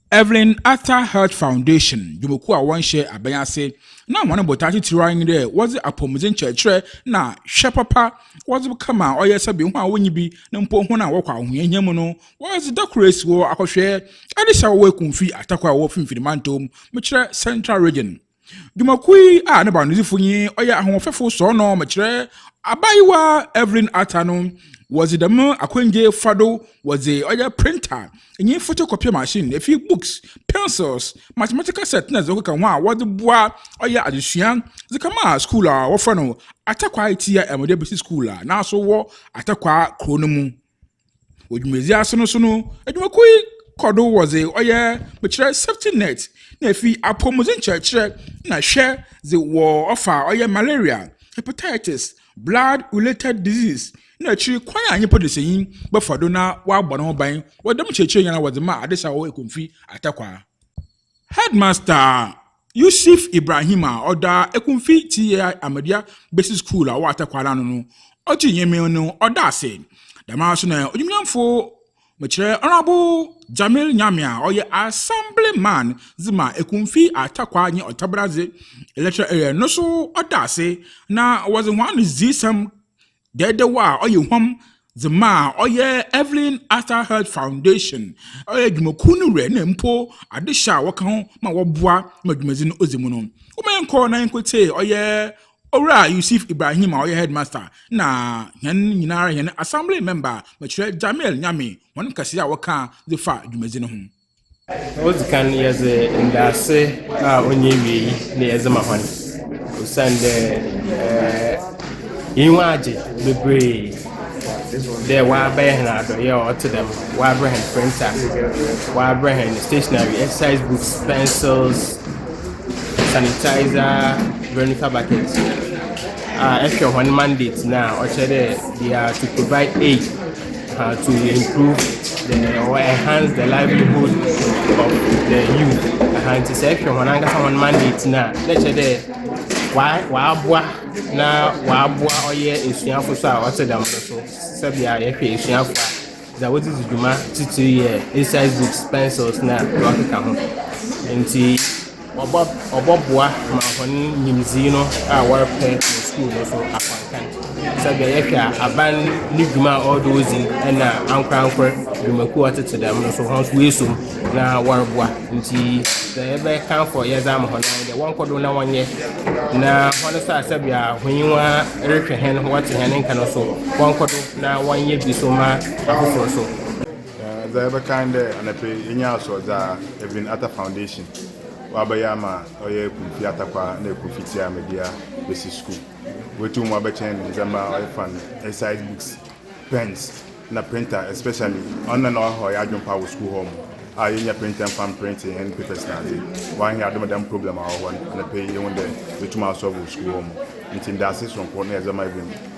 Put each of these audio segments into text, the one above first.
Evelyn Arthur Health Foundation dwumakuw a wɔnhyɛ abɛn ase na hɔn botae tsitsir ara nye dɛ wɔdze apɔwmudzen kyerɛkyerɛ na hwɛ papa wɔdze kɛma ɔyɛ sɛ bi hɔn a wonnyi bi na mpo hɔn a wɔkɔ ahohiahia mu no wɔdze da kor esi hɔ akɔhwɛ adesɛw wɔ Ekumfi atakwa a ɔwɔ Finimfin Mantɔw mu, mekyerɛ Central Region. Dwumakuw yi a ne baanodzifo nye ɔyɛ ahoɔfɛfo sɔɔnɔ mekyerɛ abaayewa Evelyn Arthur no wɔdze dɛm akwangye fa do wɔdze ɔyɛ printer nye photocopy machine, efir books, pencils, mathematical set na dza ɔkeka ho a wɔdze boa ɔyɛ adzesua dze kɛma skuul a wɔfrɛ no Atakwaa Etia Emode Besi Skuul a n'aso wɔ Atakwaa kurow no mu. Wɔ dwumadzi ase no so no, edwumakuw yi kɔ do wɔ dze ɔyɛ mekyerɛ safety net na efi apɔwmudzen kyerɛkyerɛ na hwɛ dze wɔ ɔfa ɔyɛ malaria, hepatitis, blood related disease na ekyir kwan a nyimpa desanyi bɛfa do na ɔabɔ no ho ban wɔ dɛm nkyerɛkyerɛ nyina wɔ dze ma adesaw ekomfi atakwaa. Headmaster Yusuf Ibrahim a ɔda Ekumfi TI Ahmadiyya Basic School a ɔwɔ Atakwa no ano no ɔgye Nyame no ɔda ase. Dɛm ara so na Odwimnyamfo Mekyerɛ Honourable Jamil Nyame a ɔyɛ Assembly Man dze ma Ekumfi Atakwa nye Ottaberadze Electoral Area no so ɔda ase na wɔdze hɔn adzesɛm dɛɛdɛw a ɔyɛ huam dze maa ɔyɛ Evelyn Arthur Heard Foundation, ɔyɛ dwumakuw no wura na mpo adehyɛ a wɔka ho ma wɔboa ma dwumadzi no odzi mu no. Woma yɛnkɔɔ na yenkotsiee ɔyɛ Owura Yusif Ibrahim a ɔyɛ Headmaster na hɛn nyinara hɛn Assembly Member Mekyerɛ Jamil Nyame hɔn nkãsee a wɔkãa dze faa dwumadzi no ho. Odzi kan no, yɛdze ndaase a ɔnnyɛ ewiei na yɛdze ma hɔn, osiandɛ hɛn enyiwa agye beberee dɛ wɔabɛyɛ hɛn adɔyɛ a ɔtse dɛm, wɔabrɛ hɛn printer, wɔabrɛ hɛn stationery, exercise books, pencils, sanitizer, vernica bucket, a ehwɛ hɔn mandate no a ɔkyerɛ dɛ they are to provide aid. uh, to improve the or enhance the livelihood of the youth aha nti sɛ ɛhwɛ wɔn ankasa wɔn mandate no a na ɛkyɛ dɛ wɔaboa na wɔaboa ɔyɛ esuafo so a ɔte dɛm no so sɛbea yɛhwɛ esuafo a dza wɔdze dzi dwuma titiri yɛ exercise books pencils na deɛ ɔkeka ho nti Ɔbɔboa ma hɔn nyimdzee no a wɔrepɛ wɔ skuul no so akɔankɛn. Sɛ dɛ yɛhwɛ a, aban no dwuma a ɔwɔ do odzi na ankorankor dwumakuw a ɔtsetse dɛm no so hɔn so woeeso mu na wɔroboa. Ntsi dza yɛbɛkã kɔ yɛdze ama hɔn ara nye dɛ wɔnkɔ do na wɔnyɛ, na hɔn so a sɛ bia hɔnyiwa rohwɛ hɛn, wɔtse hɛn nka no so wɔnkɔ do na wɔnyɛ bi so ma afofor so. Dza yɛbɛkã nye dɛ anapa yi yɛnyaa asoɔdze a Evelyn Atta Foundation ɔabɛyɛ ama ɔyɛ Ekumfi Attakwaa na Ekumfi Tsiamadua Besi Skuul. Woetum mu abɛkyɛn no ndzɛmba a ɔyɛ fan, exercise books, pens na printer especially ɔno na nna ɔha ɔyɛ adwen paa wɔ skuul hɔ a yennya printer mfa mprintse hɛn papers nadze. Ɔannyɛ adom a dɛm problem a ɔwɔ hɔ no anapa yi yehun dɛ yetum asolve wɔ skuul hɔ ntsi ndaase soronko na yɛdze rema Evelyn.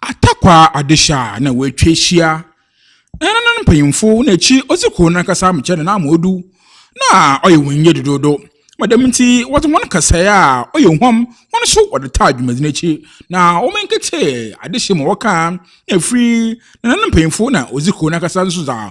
Atakwaa Adehye a na wɔatwa ahyia ne nananom mpanyimfo na akyiri odzi kurow no ankasa amekyɛ no n'amoodu na ɔyɛ hɔn yie dodoodo ma dɛm ntsi wɔdze hɔn kasae a ɔyɛ huam hɔn so wɔdze taa dwumadzi no ekyir na wɔannkɛtsee adehye ma wɔkaa na afir nananom mpanyimfo na odzi kurow no ankasa so dza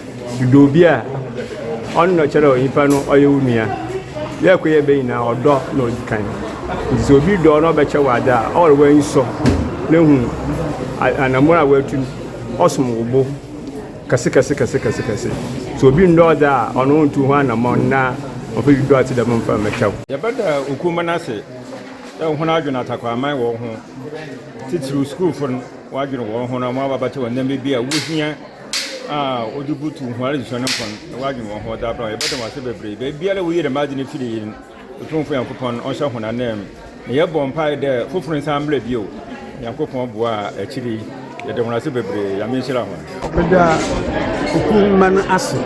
Edɔ obi a, ɔno na ɔkyerɛ dɛ onyimpa no ɔyɛ wo nua. Dɛ kor yɛbɛ nyina, ɔdɔ na odzi kan. Ntsi sɛ obi dɔ wo na ɔbɛkyɛ wo adze a, ɔwɔ dɛ w'enyi sɔ na hu anamɔn a oetu no, ɔsom wo bo kɛsekɛsekɛsekɛse. Sɛ obi nndɔ wo dze a, ɔno onntu ho anamɔn na ɔmmfa biribi a ɔtse dɛm mmfa mmɛkyɛ wo. Yɛbɛda okumba no ase dɛ hɔn adwen atakwaman wɔ wo ho, tsitsir skuulfo no, wɔadwen hɔnho na wɔaba abɛkyɛ wo ndzɛmba bi a wohia. a wɔdze butuw hɔn adzesua no mpon na wɔadwen hɔn ho dze abra hɔ. Yɛbɛda wo ase beberee dɛ biara a woyii dɛm adze no firii hɛn Tumfo Nyankopɔn ɔnhyɛ hɔn ananmu, na yɛbɔ mpaa dɛ fofor nsan mbra bio. Nyankopɔn boa a ekyir yi yɛda hɔn ase beberee. Nyame nhyira hɔn. Meda sukuu mma no ase.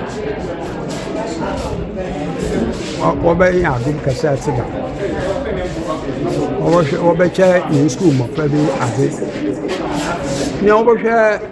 Wɔbɛyɛ adom kɛse ase da. Wɔbɛhwɛ wɔbɛkyɛ yɛn sukuu mmɔfra bi adze. Nea wɔbɛhwɛ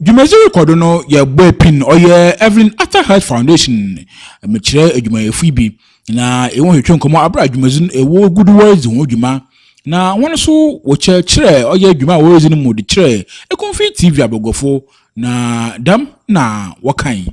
Dwumadzi rokɔ do no, yɛbɔe pin ɔyɛ Evelyn Arthur Health Foundation. Mekyerɛ edwumayɛfo yi bi, na hɛn hwetwe nkɔmbɔ aber a dwumadzi no wogu do wɔredzi ho dwuma, na hɔn so wɔkyerɛkyerɛ ɔyɛ dwuma a woridzi no mu de kyerɛ Ekumfi TV abɔguafo, na dɛm na wɔkae.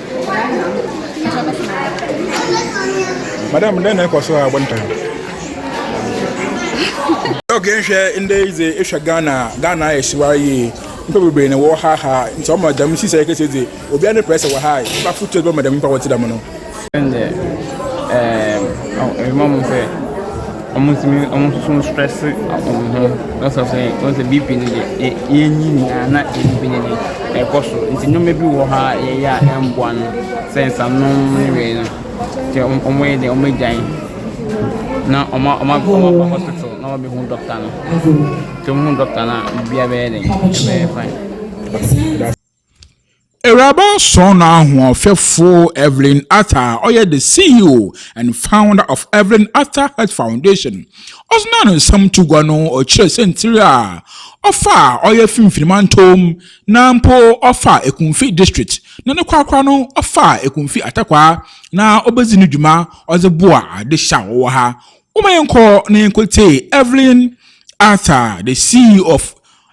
Madam, dɛn na ɛkɔ so a abɔ ne tan? Dɔk yɛnhwɛ ndɛ yi dze ehwɛ Ghana a, Ghana ayɛ hyewae yie. Nyimpa beberee na wɔrehaha, ntsi ɔma dɛm nhyehyɛɛ kɛse yi dze obiara ne pressure wɔ ha a, nyimpa fotu a ebɛma dɛm nyimpa a wɔtse dɛm no. Wɔtumi nso strɛse wɔn ho na sɛ sɛ wɔn sɛ BP no deɛ e enyi nyinaa na ebi bi ne deɛ ɛkɔ so nti nneɛma bi wɔ hɔ a yɛyɛ a ɛmboa no sɛ nsanom ne wei no nti wɔn yɛ deɛ wɔn agyae na wɔn wɔn wɔn aba hospital na wɔn abɛhu dɔkta no nti wɔn hu dɔkta no a biribiara bɛyɛ den ɛbɛyɛ fine. Awuraba Sɔɔ no ahoɔfɛfo Evelyn Arthur a ɔyɛ the CEO and founder of Evelyn Arthur Health Foundation ɔsena no nsɛm to gua no ɔkyerɛ sɛntiri a ɔfa a ɔyɛ Finfini Mantom na mpo ɔfa Ekumfi District na ne korakora no ɔfa Ekumfi Atakwa na ɔbɛdzi no dwuma ɔdze boa adehye a wɔwɔ ha. Woma yɛnkɔ na yɛnkɔtie Evelyn Arthur the CEO of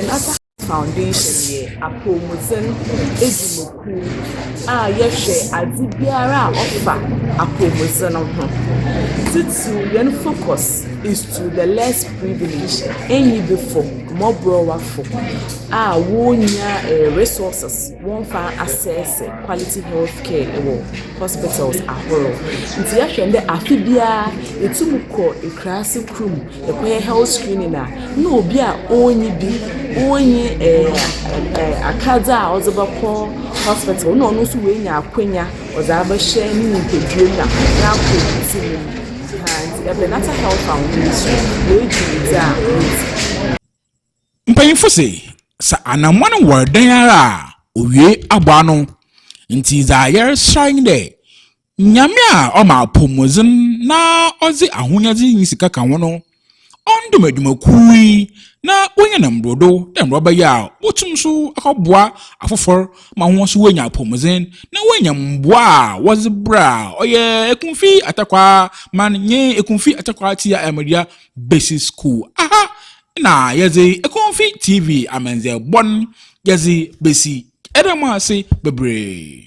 Another Foundation yɛ apɔwmudzen edzi mu kuw a yɛhwɛ adze biara a ɔfa apɔwmudzen ho. Tsitsir hɛn focus is to the less privileged, enyibifo, mbɔbrɔwafo a wonnya resources wɔmmfa assess quality health care wɔ hospitals ahorow. Ntsi yɛhwɛ ndɛ afe biara yetum kɔ ekuraase kor mu. Ɛkɔyɛ health screening a na obi a ɔnyi bi, ɔnyi ɛɛ ɛɛ akadze a ɔdze bɛkɔ hospital na ɔno nso oenya akɔnya ɔdze abɛhyɛ ne nyimpadua mu na ɔakɔ edzi mu no. Ahaa, ntsi Ebɛnadze Health Foundation hɔn dwumadzi a wodzi. Mpanyimfo se sɛ anamɔn wɔ dɛn ara a owie abɔ ano. Ntsi dza yɛreserɛ nye dɛ Nyame a ɔma apɔwmudzen na ɔdze ahonyadze nye sika ka ho no, ɔndom edwumakuw yi na onyɛ no mbordo dɛ mbrɛ ɔbɛyɛ a wobotum so akɔboa afofor ma hɔn so woenya apɔwmudzen na woenya mboa a wɔdze brɛ a ɔyɛ Ekumfi Atakwaa Man nye Ekumfi Atakwaa Tsia Ayamdua Basic Skuul. Aha na yɛdze Ekumfi TV amandzɛɛbɔ no yɛdze besi. Yɛda mo ase beberee.